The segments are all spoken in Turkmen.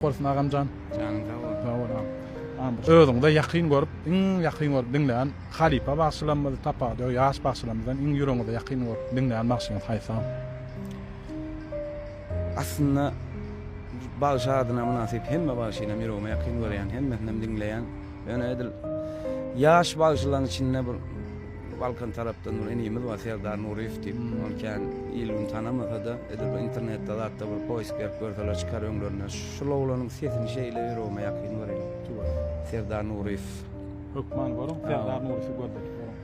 Bolsun agamjan. Janyň sag bolsun. Sag bol agam. Agam özüňize ýakyn görüp, iň ýakyn görüp diňlän halypa bagşylarymyz, tapawudy ýok, ýaş bagşylarymyzdan iň ýüregiňize ýakyn görüp diňlän bagşyňyz haýsy agam? Aslynda bagşy adyna mynasyp hemme bagşynam ýüregime ýakyn görýän, hemmesinem diňleýän. Ýöne edil ýaş bagşylaryň içinde bir Balkan tarapdan bir inimiz bar Serdar Nuryýew diýip. Ony kän il-gün tanamasa-da, edil bir internetde zatda bir poýsk berip görseler çykar öňlerinden. Şul oglanyň sesini şeýle ýüregime ýakyn görýän. Tüweleme. Serdar Nuryýew. Hökman görüň Serdar Nuryýewi gözledip görüň.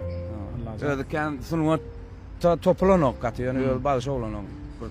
Allajan. Özi kän sungatda topulanok gaty, ýöne özi bagşy oglan oň. Bir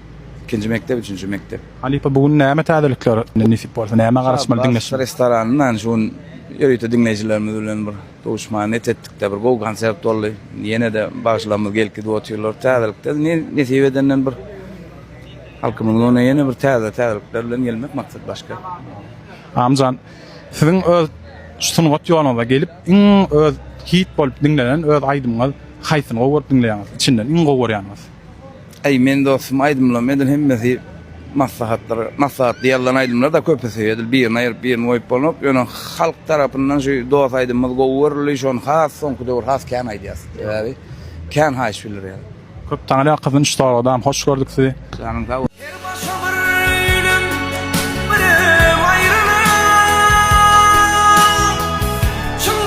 Ikinji mekdep, üçünji mekdep. Halypa bu gün näme täzelikler nesip bolsa nämä garaşmaly diňleşiň. Restoranyndan şu gün ýörite diňleýjilerimiz bilen bir duşma net etdikde bir gowy konsert boldy. Ýene-de bagşylarymyz gelip gidip otyrlar. Täzelikde nesip edenden bir halkymyzyň öňüne ýene bir täze täzelikler bilen gelmek maksat başga. Amjan siziň öz sungat ýoluňyza gelip iň öz hit bolup diňlenen öz aýdymyňyz haýsyny gowy görüp diňleýäňiz? Içinden iň gowy görýäniňiz? Eý men dostum aýdymlarymy edil hemmesi maslahatlar maslahatly ýazylan aýdymlar da köpüsi edil birini aýyryp birini goýup bolanok ýöne halk tarapyndan şu dos aýdymymyz gowy görüldi şony has soňky döwür has kän aýdýas sebäbi kän haýyş bildirýär. Köp taňra gyzyn şu soragdam hoş gördük sizi. Janyň sag bolsun. Her başa bir öýlem birem aýrylan çyn